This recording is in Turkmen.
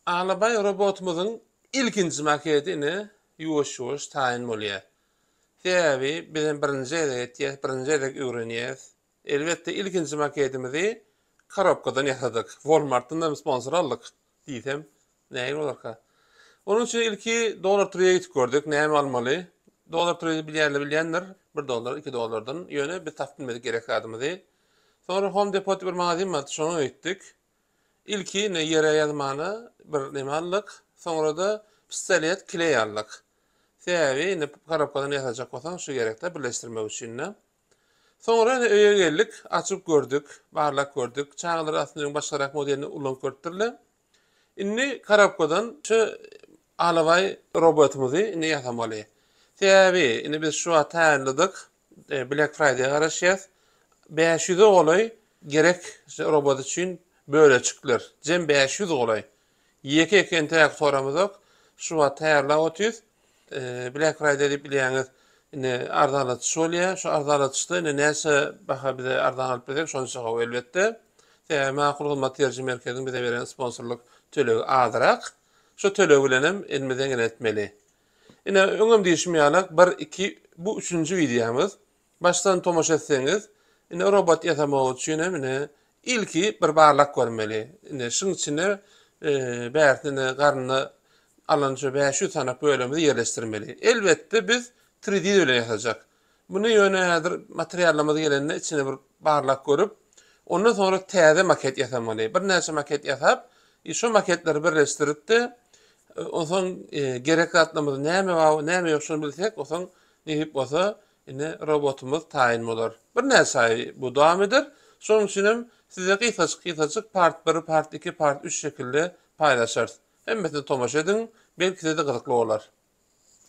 Alabaý robotumyzyň ilkinji maketi ine ýuwaş-ýuwaş taýyn bolýar. Sebäbi biz hem birinji gezek etýäs, birinji gezek öwrenýäs. Elbetde ilkinji maketimizi korobkadan ýasadyk. Walmartdan hem sponsor aldyk diýsem nägile bolarka. Onuň üçin ilki Dollar Tree-e gidip gördük, näme almaly. Dollar Tree-ni bilýänler bilýändir, bir dollar, iki dollardan. Ýöne biz tapyp bilmedik gerek zadymyzy. Soňra Home Depot diýip bir magazin bardy, şoňa gitdik. Ilki indi ýere ýazmana bir neme aldyk. Soňra-da pistolet, kleý aldyk. Sebäbi indi korobkadan ýasajak bolsaň şu gerekde birleşdirmek üçin-de. Soňra indi öýe geldik, açyp gördük, barlap gördük. Çagalar aslynda öň başgarak modelini ulanyp görüpdirler. Indi korobkadan şu alabaý robotymyzy indi ýasamaly. Sebäbi indi biz şu wagt taýýarladyk. Black Friday garaşýas. Bäş ýüze golaý gerek robot üçin böleçikler. Jem bäş ýüz golaý. Ýeke-ýeke entäk soramyzok. Şu wagt taýýarlap otyrys. Black Friday diýip bilýäňiz, indi arzanlatyş bolýar. Şu arzanlatyşda indi näçe baha bize arzan alyp bilsek, şonça gowy elbetde. Sebäbi Makul Hyzmat Ýeriji merkeziň bize beren sponsorlyk tölegi azrak. Şu töleg bilen hem elimize gelenetmeli. Ine, öňem diýşim ýaly, bir, iki, bu üçünji wideomyz. Başdan tomaşa etseňiz, ine, robot ýasamak üçin hem, ine, ilki bir barlap görmeli. Ine, şuň içine bärisini, ine, garnyny alan şu bäş ýüz sany bölümimizi ýerleşdirmeli. Elbetde, biz tridiz bilen ýasajak. Muny ýöne häzir materiallarymyz gelende içini bir barlap görüp, ondan soňra täze maket ýasamaly. Birnäçe maket ýasap, şo maketleri birleşdirip-de, onsoň gerek zatlarymyz näme bar, näme ýok şony bilsek, onsoň nesip bolsa ine robotumyz taýyn bolar. Birnäçe aý bu dowam eder. Şonuň üçin hem size gysgajyk-gysgajyk part bir, part iki, part üç şekilde paýlaşarys. Hemmesine tomaşa ediň, belki size-de gyzykly bolar.